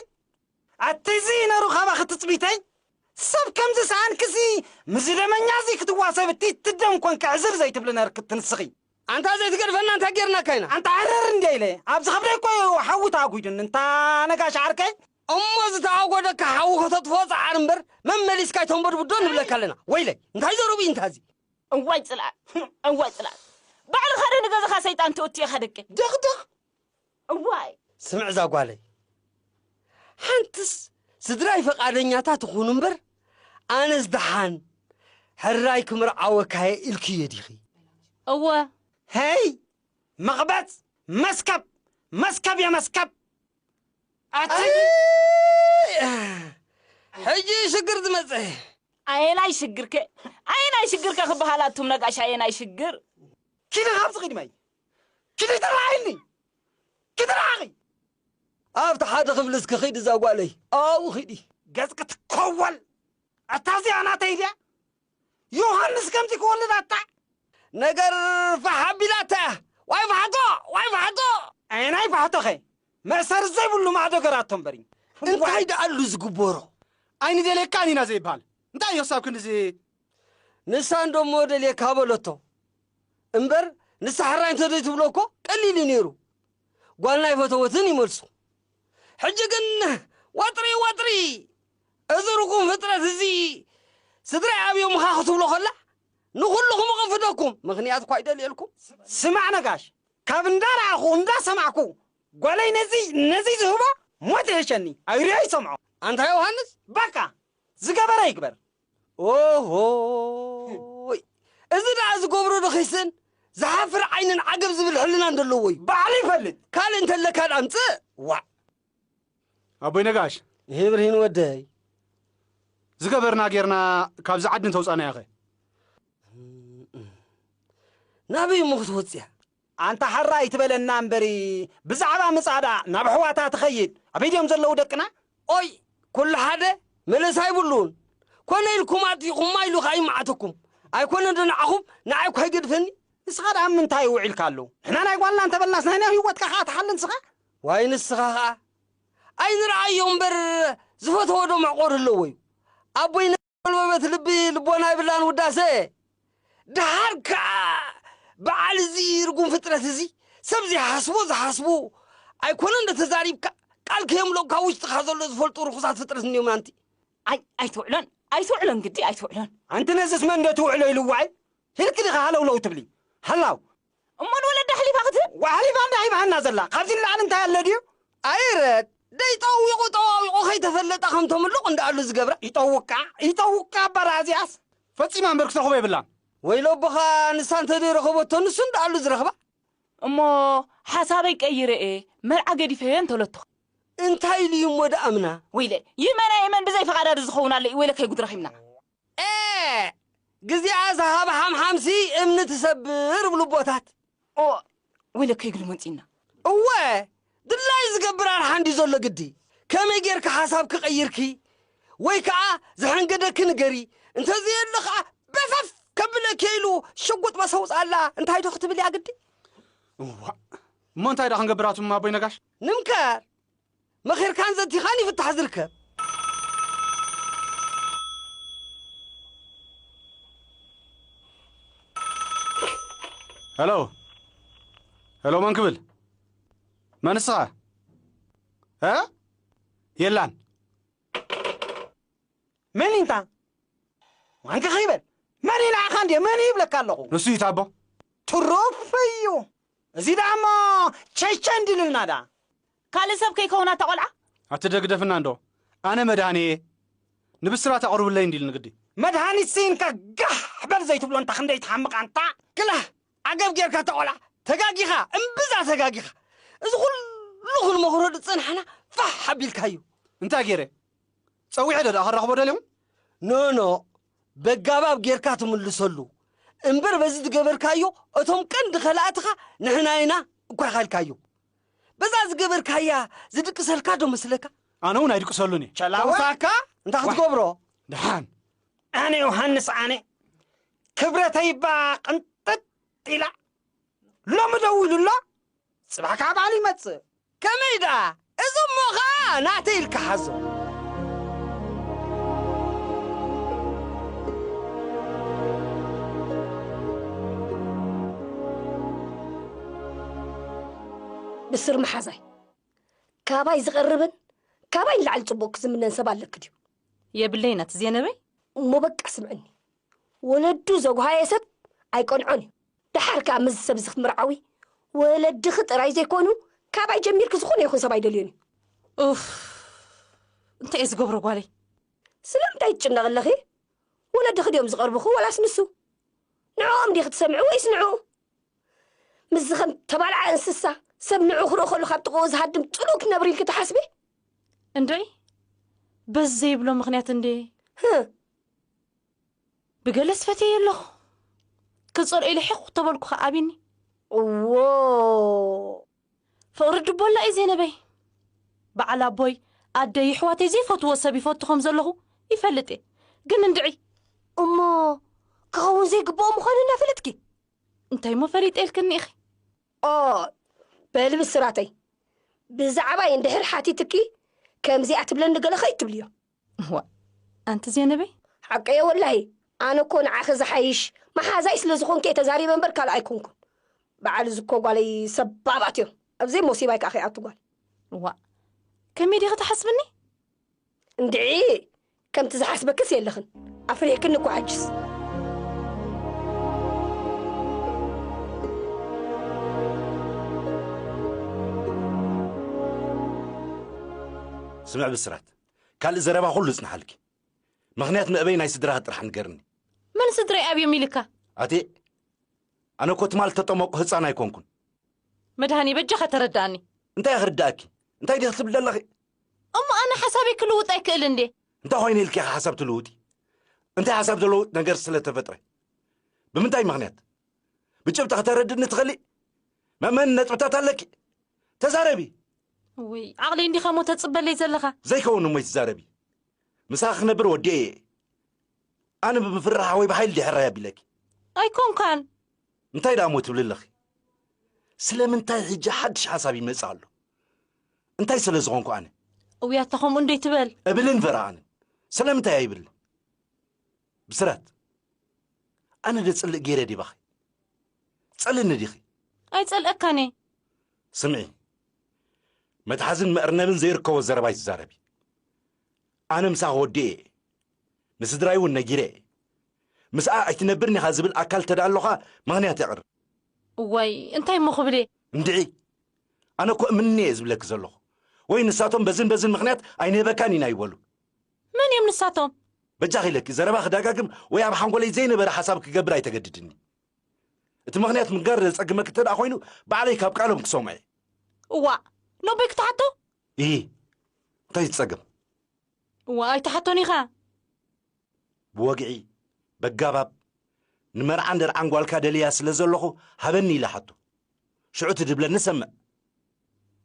ኣትይ እዚ ነሩ ካባኺ ትጽቢተይ ሰብ ከምዚ ሰኣንኪ እዚ ምዚ ደመኛ እዚ ክትዋሰቢ ቲቲ ደም ኮንኪ ዕዝር ዘይትብሊ ነርኪ ትንስኺ። ኣንታ ዘይትገድፈና እንታይ ጌርናካ ኢና ኣንታ ዕርር እንድየ ኢለ ኣብዚ ከብደይ እኮ እዩ ሓዊ ተኣጒዱኒ እንታ ነጋሽ ዓርከይ። እሞ ዝተኣጎደካ ሓዊ ከተጥፍኦ ጸዓር እምበር መመሊስካ ኣይተንበድብድ ዶ ንብለካ ኣለና ወይለይ እንታይ ዘረብኡ እዩ እንታ እዚ። እዋይ ጽልኣት እዋይ ጽልኣት ባዕልኻ ዶ ንገዛኻ ሰይጣን ትእቱ ኢኻ ደቂ። ድቕድቕ እዋይ! ስምዕ እዛ ጓለይ ሓንትስ ስድራይ ፈቃደኛታት ይኹኑ እምበር ኣነስ ደሓን ሕራይ ክምርዓወካየ ኢልክዮ ዲኺ? እወ። ሄይ መቕበጽ መስከብ መስከብ እየ መስከብ ሕጂ እዩ ሽግር ዝመፀ ኣየናይ ሽግርከ ኣየናይ ሽግርከ ክበሃል ኣቱም ነጋሽ ኣየናይ ሽግር ኪነ ካብዚ ኺድ ማይ ክዲ ተራኣይኒ ክትርኣኺ ኣብቲ ሓደ ክፍሊ እስኪ ኺዲ እዛ ጓለይ ኣብኡ ኺዲ ገጽኪ ትኮወል ኣታ እዚኣ ናተይ ድያ ዮሃንስ ከምዚ ክወልድ ኣታ ነገር ፋሕ ኣቢላታ እያ ዋይ ፋሕቶ ዋይ ፋሕቶ ኣየናይ ፋሕቶኸ መእሰሪ ዘይብሉ ማዕዶ ገራቶ እምበሪ እንታይ ደኣሉ ዝግበሮ ኣይንደልየካን ኢና ዘይበሃል እንታይ እዮ ክሳብ ክንድዚ ንሳ እንዶሞ ደልየካ በለቶ እምበር ንሳ ሕራይ እንተዘይትብሎ እኮ ቀሊል እዩ ነይሩ ጓልና ኣይፈተወትን እዩ መልሱ ሕጂ ግን ዋጥሪ ዋጥሪ እዚ ርጉም ፍጥረት እዚ ስድራይ ኣብዮ ምኻ ክትብሎ ከላ ንኹልኹም እቕንፍደኩም ምኽንያት እኳ ይደልየልኩም ስማዕ ነጋሽ ካብ እንዳረኣኹ እንዳሰማዕኩ ጓለይ ነዚ ነዚ ዝህቦ ሞት ይሕሸኒ ኣይሪኦ ይሰምዖ ኣንታ ዮሃንስ ባቃ ዝገበረ ይግበር ኦሆይ እዚ ደኣ ዝገብሮ ዶ ኺስእን ዝሓፍር ዓይንን ዓገብ ዝብል ሕልናን ደለዎ እዩ ባዕሉ ይፈልጥ ካልእ እንተለካ ደኣ ኣምጽእ ዋእ ኣቦይ ነጋሽ ይሄ ብርሂን ወደይ ዝገበርና ጌርና ካብዚ ዓዲ እንተውፃእናያ ኸ ናበይ እሞ ክትወፅያ ኣንታ ሓራ ኣይትበለና እምበሪ ብዛዕባ ምጻእ ደኣ ናብ ኣሕዋታ ትኸይድ ኣበይ ድዮም ዘለዉ ደቅና። ኦይ ኩሉ ሓደ መለሳ ኣይብሉን ኮነ ኢልኩም ኣጥፊኩማ ኢሉ ከኣ ይማዓተኩም ኣይኮነን ዶ ንዓኹም ንዓይ እኳ ይገድፈኒ። ንስኻ ደኣ ኣብ ምንታይ ውዒልካ ኣሎ ንሕና ናይ ጓልና እንተበልናስ ናይ ናይ ሂወትካ ከኣ ትሓሊ ንስኻ። ዋይ ንስኻ ከኣ ኣይንርኣዮ እምበር ዝፈተዎ ዶ መዕቆሪ ኣለዎዩ ኣቦይ ጎልበበት ልቢ ልቦና ይብላን ውዳሰ ደሓር ከኣ በዓል እዚ ርጉም ፍጥረት እዚ ሰብ ዘይሓስቦ ዝሓስቡ ኣይኮነ እንደ ተዛሪብካ ቃል ከየምልኦ ካብ ውሽጥኻ ዘሎ ዝፈልጡ ርኹሳት ፍጥረት እንዲዮም ኣንቲ ኣይ ኣይትውዕሎን ኣይትውዕሎን ግዲ ኣይትውዕሎን ኣንቲ ነዝስ መን ዶ ትውዕሎ ኢልዋይ ሂልክ ዲኻ ሃለውለው ትብሊ ሃላው እሞ ንወለዳ ኣሕሊፋ ክትህብ? ዋይ ኣሕሊፋ እንድያ ሂባትና ዘላ ካብዚ ንላዕሊ እንታይ ኣሎ ድዩ? ኣይረድ ደይ ጠዊቑ ጠዋዊቑ ከይተፈለጠ ከም ተምሉቕ እንዳኣሉ ዝገብራ ይጠውቃ ይጠውቃ ኣባራ እዚኣስ ፈጺማ እምበር ክተርኽቦ የብላን። ወይሎ ኣቦኻ ንሳ እንተደይ ረኸቦቶ ንሱ እንዳኣሉ ዝረኽባ። እሞ ሓሳበይ ቀይረ እየ መርዓ ገዲፈዮ እየ እንተሎትኸ? እንታይ ኢሉ እዩ እሞ ድኣምና? ወይለ ይመና የመን ብዘይ ፈቓዳ ዶ ዝኸውን ኣሎ እዩ ወይለ ከይጉድ ረኺብና። ኤእ ግዚኣ ዝሃብ ሓምሓምሲ እምኒ ትሰብር እብሉ ኣቦታት። ኦእ ወይለከይ ግዲ መንጺና። እወ ድላዩ ዝገብር ኣርሓ እንድዩ ዘሎ ግዲ ከመይ ጌርኪ ሓሳብ ክቐይርኪ ወይ ከኣ ዝሐንገደኪ ንገሪ እንተዘየሎ ከኣ በፈፍ ከብለኪ ኢሉ ሽጉጥ በሰውጽኣላ እንታይ ዶ ክትብል እያ ግዲ። እዋእ እሞ እንታይ ደኣ ክንገብር ኣቱም ኣቦይ ነጋሽ? ንምከር መኺርካን ዘቲኻን እዩ ፍታሕ ዝርከብ። ሄሎ ሄሎ፣ መን ክብል መን እስኻ? እ የላን መን እዩ እንታ ዋንካ ከይበል መን እዩ ንዓኻ እንድየ መን እዩ ይብለካ ኣለኹ ንሱ እዩ ታቦ ትሩፍ እዩ እዚ ደኣ እሞ ቸይቸይ እንዲሉልና ደኣ ካልእ ሰብ ከይከውና እታ ቆልዓ። ኣቲ ደግደፍና እንዶ ኣነ መድሃኔ እየ ንብስራት ኣቅርብለይ እንዲልኒ ግዲ። መድሃኒት ስኢንካ ጋሕ በል ዘይትብሎ እንታ ክንደይ ትሓምቅ ኣንታ። ክላህ ዓገብ ጌርካ እታ ቆልዓ ተጋጊኻ እምብዛ ተጋጊኻ እዚ ኩሉ ክንመኽሮ ዝጸናሕና ፋሕ ኣቢልካዩ። እንታይ ጌረ ጸዊዐ ዶ ደኣ ከራኽቦ ደልዮም። ኖኖእ በጋባብ ጌርካ ትምልሰሉ እምበር በዚ ዝገበርካዮ እቶም ቀንዲ ከላእትኻ ንሕና ኢና እኳ ኢኻልካዮ በዛ ዝገበርካያ ዝድቅሰልካ ዶ መስለካ ኣነ እውን ኣይድቅሰሉን እየ ጨላወሳካ እንታይ ክትገብሮ ድሓን ኣነ ዮሃንስ ኣነ ክብረተይባ ቅንጥጥ ኢላ ሎሚ ደዊሉ ኣሎ ጽባሕ ከኣ በዓል ይመጽእ። ከመይ ደኣ እዚ እሞ ከኣ ናተይ ኢልካ ሓዞ። ብስር መሓዛይ፣ ካባይ ዝቐርብን ካባይ ንላዕሊ ጽቡቕ ክዝምነን ሰብ ኣለኪ ድዩ? የብለይ ናቲ ዜነበይ። እሞ በቃ ስምዕኒ፣ ወለዱ ዘጉሃየ ሰብ ኣይቀንዖን እዩ። ደሓር ከኣ ምስዚ ሰብዚ ክትምርዓዊ ወለድኺ ጥራይ ዘይኮኑ ካባይ ጀሚርኪ ዝኾነ ይኹን ሰብ ኣይደልዮን እዩ። ኡፍ እንታይ እየ ዝገብሮ ጓለይ። ስለምንታይ ትጭነቒ ኣለኺ? ወለድኺ ድዮም ዝቐርቡኺ ወላስ ንሱ? ንዕኦም ዲኺ ትሰምዒ ወይስ ንዕኡ? ምስዚ ከም ተባልዓ እንስሳ ሰብ ንዕኡ ክርኢ ከሎ ካብ ጥቕኡ ዝሃድም ጽሉእ ክትነብሪ ኢልኪ ትሓስቢ? እንድዒ በዚ ዘይብሎ ምኽንያት እንድየ። ብገለስ ፈትየዮ ኣለኹ ክጸልኦ ኢለ ሒኽ ተበልኩ ከ ኣቢኒ እዎ ፍቕሪ ድቦላ እዩ ዜነበይ በዓል ኣቦይ ኣደይ ይሕዋተይ ዘይፈትዎ ሰብ ይፈቱ ከም ዘለኹ ይፈልጥ እየ ግን እንድዒ እሞ ክኸውን ዘይግብኦ ምዃኑ እናፈለጥኪ እንታይ እሞ ፈሊጠ ኢልክኒ ኢኺ ኦይ በሊ ብስራተይ ብዛዕባይ እንድሕር ሓቲትኪ ከምዚኣ ትብለኒ ገለ ከይትብልዮ እዋእ ኣንቲ ዜነበይ! ሓቀየ ወላሂ ኣነ እኮ ንዓኺ ዝሓይሽ መሓዛይ ስለ ዝኾንኪ እየ ተዛሪበ እምበር ካልእ ኣይኮንኩን በዓል እዚ እኮ ጓለይ ሰባባት እዮም ኣብዘይ ሞሲባይ ከኣ ከይኣቱ ጓል እዋእ ከመይ ዲኺ ትሓስብኒ እንድዒ ከምቲ ዝሓስበክስ የለኽን ኣፍሪሕክኒ እኮ ሕጅስ ስምዕ ብስራት ካልእ ዘረባ ኩሉ እጽንሓልኪ። ምኽንያት መእበይ ናይ ስድራኺ ጥራሕ ንገርኒ። መን ስድረይ ኣብዮም ኢልካ? ኣቴ ኣነ እኮ ትማል እተጠመቁ ህጻን ኣይኮንኩን። መድሃኔ በጃኻ ተረዳኣኒ። እንታይ ክርዳኣኪ? እንታይ ዲኺ ትብሊ ዘለኺ? እሞ ኣነ ሓሳበይ ክልውጥ ኣይክእልን ድየ? እንታይ ኮይነ ኢልኪ ኢኺ ሓሳብ ትልውጢ? እንታይ ሓሳብ ዝለውጥ ነገር ስለ ተፈጥረ? ብምንታይ ምኽንያት? ብጭብጢ ከተረድእኒ ትኽእሊ? መእመኒ ነጥብታት ኣለኪ? ተዛረቢ! እውይ ዓቕለይ እንዲኻሞ ተጽበለይ ዘለኻ። ዘይከውን እሞ ኣይትዛረቢ ምሳኺ ክነብር ወዲኤ እየ ኣነ ብምፍርራሕ ወይ ብሓይሊ ድሕራይ ኣቢለኪ ኣይኮንካን እንታይ ደኣ እሞ ትብሊ ኣለኺ ስለምንታይ ሕጂ ሓድሽ ሓሳብ ይመጽእ ኣሎ እንታይ ስለ ዝኾንኩ ኣነ እውያታ ከምኡ እንዶይ ትበል እብልን ፈራኣንን ስለምንታይ ኣይብልን ብስራት ኣነ ዶ ጽልእ ገይረ ድየ ባኺ? ትጸልእኒ ዲኺ? ኣይጸልኣካን እየ። ስምዒ መትሓዝን መእርነብን ዘይርከቦ ዘረባ ኣይትዛረቢ። ኣነ ምሳኺ ወዲኤ እየ። ንስድራይ እውን ነጊረ እየ። ምስኣ ኣይትነብርን ኢኻ ዝብል ኣካል እንተ ደኣ ኣሎኻ ምኽንያት የቕርብ። እዋይ እንታይ እሞ ክብል እየ። እንድዒ ኣነ እኮ እምኒ እየ ዝብለኪ ዘለኹ። ወይ ንሳቶም በዝን በዝን ምኽንያት ኣይንህበካን ኢና ይበሉ። መን እዮም ንሳቶም? በጃኺ ለኪ ዘረባ ክደጋግም ወይ ኣብ ሓንጎለይ ዘይነበረ ሓሳብ ክገብር ኣይተገድድኒ። እቲ ምኽንያት ምግጋር ዘጸግመኪ እንተ ደኣ ኮይኑ ባዕለይ ካብ ቃሎም ክሰምዖ እየ። እዋእ ሎምበይ ክትሓቶ? እሂ እንታይ ዝጸገም? እዋእ ኣይትሓቶን ኢኻ። ብወግዒ በጋባብ ንመርዓን ደርዓን ጓልካ ደልያ ስለ ዘለኹ ሃበኒ ኢለ ሓቶ። ሽዑ ትድብለኒ ሰምዕ።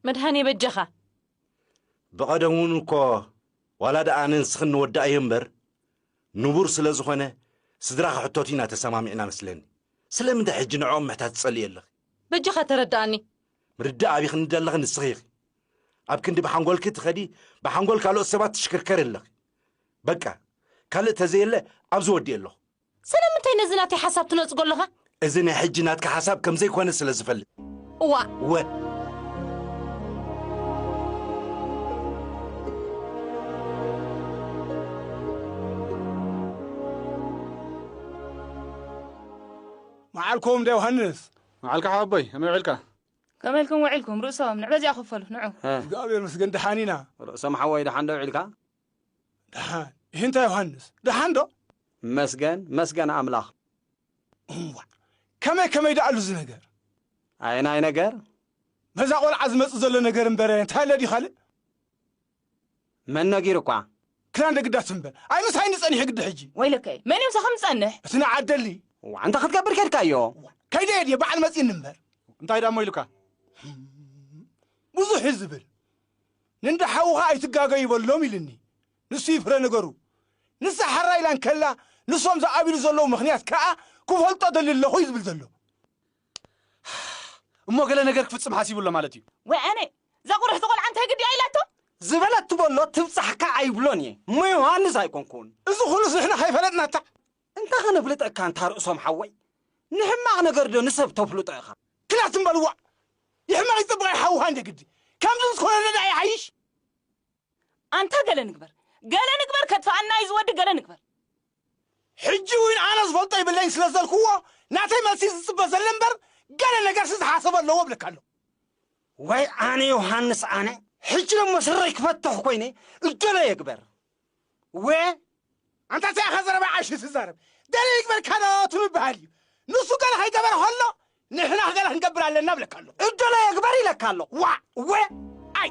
መድሃኔ በጃኻ። ብቐደም እውን እኮ ዋላ ደኣ ነንስኽን ንወዳኣዮ እምበር ንቡር ስለ ዝኾነ ስድራ ክሕተቱ ኢና ተሰማሚዕና መስለኒ ስለምንታይ ሕጂ ንዕኦም ምሕታት ትጸልኢ ኣለኺ? በጃኻ ተረዳኣኒ። ምርዳእ ኣቢኽኒ ደለኺ ንስኺ ኢኺ ኣብ ክንዲ ብሓንጎልኪ ትኸዲ ብሓንጎል ካልኦት ሰባት ትሽክርከሪ ኣለኺ በቃ ካልእ ተዘየለ ኣብዚ ወዲኤ ኣለኹ። ስለምንታይ ነዚ ናተይ ሓሳብ ትነጽጎ ኣለኻ? እዚ ናይ ሕጂ ናትካ ሓሳብ ከም ዘይኮነ ስለ ዝፈልጥ። እዋእ! እወ! መዓልኩም እንዳ ዮሃንስ። መዓልካ ሓወቦይ፣ ከመይ ውዒልካ? ከመይ ኢልኩም ውዒልኩም? ርእሶም፣ ንዕበዚኣ ክፈሉ፣ ንዑ። እግዚኣብሔር ይመስገን ደሓን ኢና። ርእሶም ሓወይ ደሓን ዶ ውዒልካ? ደሓን ይህንታ ዮሃንስ ደሓን ዶ? መስገን መስገን ኣምላኽ። እንዋዕ ከመይ ከመይ ደኣ ኣሉ እዚ ነገር? ኣየናይ ነገር? በዛ ቆልዓ ዝመጽእ ዘሎ ነገር እምበረ እንታይ ኣለ ድዩ ካልእ? መን ነጊሩኳ? ክዳን ደግዳ ትም በል ኣይ ምሳይ እንዲ ጸኒሑ ግዲ ሕጂ። ወይለከይ መን እዩ ምሳኻ ምጸንሕ? እቲ ንዓደሊ ዋዕ እንታይ ክትገብር ኬድካዮ? ከይደ እየ ድየ በዓል መጺእኒ እምበር። እንታይ ደኣ እሞ ኢሉካ? ብዙሕ እዩ ዝብል። ንእንዳ ሓውኻ ኣይትጋገዩ በሎም ኢልኒ ንሱ እዩ ፍረ ነገሩ ንሳ ሓራ ኢላ እንከላ ንሶም ዝኣብሉ ዘለዉ ምኽንያት ከኣ ክፈልጦ እደሊ ኣለኹ እዩ ዝብል ዘሎ እሞ ገለ ነገር ክፍጽም ሓሲቡ ኣሎ ማለት እዩ ወያኔ ዘቑርሕ ዝቖልዓ እንታይ ግዲ እያ ኢላቶ ዝበለቱ በሎ ትብጻሕካ ኣይብሎን እየ እሞ ዮሃንስ ኣይኮንኩን እዚ ኹሉስ ንሕና ከይፈለጥናታ እንታይ ከነፍልጠካ ኣንታ ርእሶም ሓወይ ንሕማቅ ነገር ዶ ንሰብ ተፍልጦ ኢካ ክላ ትም በል ዋእ ይሕመቅ ይጽብቅ ይሓውካ እንደ ግዲ ከምዚ ምስ ኮነ ደኣ ይሓይሽ ኣንታ ገለ ንግበር ገለ ንግበር ከጥፍኣና እዩ ዝወዲ ገለ ንግበር ሕጂ ውን ኣነ ዝፈልጦ ይብለኝ ስለ ዘልክዎ ናተይ መልሲ ዝጽበ ዘለ እምበር ገለ ነገርሲ ዝሓሰቦ ኣለዎ እብለካ ኣለኩ ዋይ ኣነ ዮሃንስ ኣነ ሕጂ ደሞ ስረይ ክፈትሕ ኮይነ እደለዮ ግበር ወ ኣንታ እንታይ ኢኻ ዘረባ ዓሽ ትዛረብ ገለ ይግበርካ ዶ ትምብሃል እዩ ንሱ ገለ ከይገበረ ከሎ ንሕና ገለ ክንገብር ኣለና ብለካ ኣሎ እደሎ የግበር ይለካ ኣሎ ዋ ወ ኣይ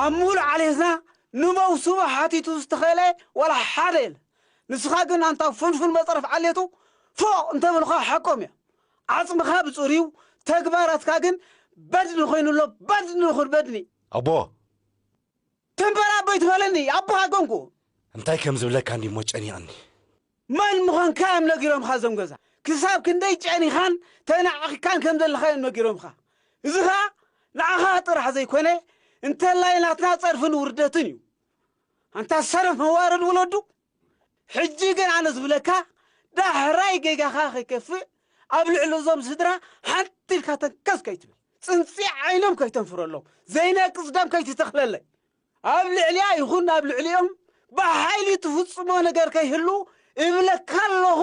ኣብ ምሉእ ዓሌትና ንመውስቦ ሓቲቱ ዝተኸለ ዋላ ሓደ የለን። ንስኻ ግን ኣንታ ፉንፉን መፅረፍ ዓሌቱ ፎእ እንተበሉኻ ሓቆም እዮም። ዓፅምኻ ብፅሩዩ ተግባራትካ ግን በድኒ ኮይኑ ኣሎ በድኒ ይኹን በድኒ። ኣቦ ትንበር ኣቦይ ትበለኒ ኣቦኻ ኮንኩ። እንታይ ከም ዝብለካ እንድዩ እሞ ጨኒቕኒ። መን ምዃንካ እዮም ነጊሮምኻ እዞም ገዛ? ክሳብ ክንደይ ጨኒኻን ተናዒቕካን ከም ዘለኻ እዮም ነጊሮምኻ። እዚ ኸኣ ንዓኻ ጥራሕ ዘይኮነ እንተላይ ናትና ጸርፍን ውርደትን እዩ። ኣንታ ሰነፍ መዋረድ ወለዱ። ሕጂ ግን ኣነ ዝብለካ ዳሕራይ ጌጋኻ ከይከፍእ ኣብ ልዕሊ እዞም ስድራ ሓንቲ ኢልካ ተንከስ ከይትብል ጽንጺ ዓይኖም ከይተንፍረሎም ዘይነቅጽ ደም ከይትተኽለለይ ኣብ ልዕሊያ ይኹን ኣብ ልዕሊኦም ብሓይሊ ትፍጽሞ ነገር ከይህሉ እብለካ ኣለኹ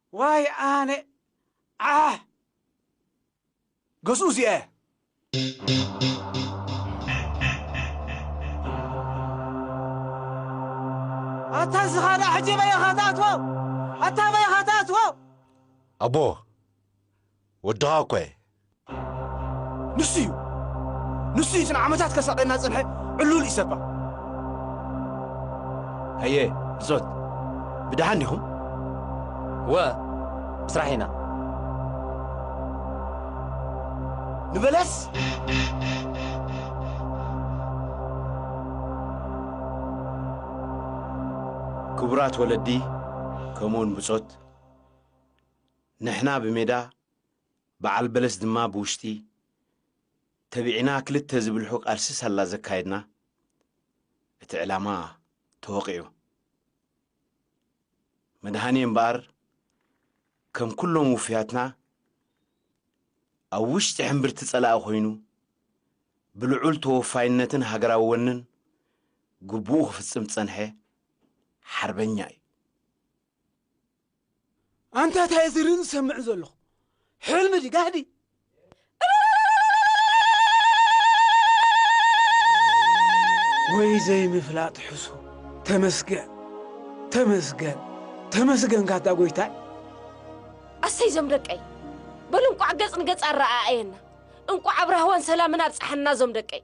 ዋይ ኣነ ዓሕ ገዝኡ እዚኣ እያ። ኣታ እዚ ካልእ ሕጂ ኣበይ ኢኻ ትኣትዎ ኣታ ኣበይ ኢኻ ትኣትዎ። ኣቦ ወድኻ እኮ እየ። ንሱ እዩ ንሱ እዩ እቲ ንዓመታት ከሳቕየና ዝጸንሐ ዕሉል ኢሰፓ። ሃየ ብጾት ብደሓን ዲኹም? እወ ብስራሕ ኢና። ንበለስ ክቡራት ወለዲ ከምኡውን ብጾት፣ ንሕና ብሜዳ በዓል በለስ ድማ ብውሽጢ ተቢዕና ክልተ ዝብልሑ ቃልሲ ሳላ ዘካየድና እቲ ዕላማ ተወቒዑ። መድሃኔ እምበኣር ከም ኩሎም ውፉያትና ኣብ ውሽጢ ሕምብርቲ ጸላኢ ኮይኑ ብልዑል ተወፋይነትን ሃገራዊ ወንን ግቡኡ ክፍጽም ዝጸንሐ ሓርበኛ እዩ። ኣንታ ታይ ዝርን ዝሰምዕን ዘለኹ ሕልሚ ዲ ጋህዲ ወይ ዘይምፍላጥ ሕሱ ተመስገን ተመስገን ተመስገን ካታ ጎይታይ ኣሰይ ዞም ደቀይ በሉ እንቋዕ ገጽ ንገጽ ኣረኣኣየና እንቋዕ ኣብ ራህዋን ሰላምን ኣብጽሓና ዞም ደቀይ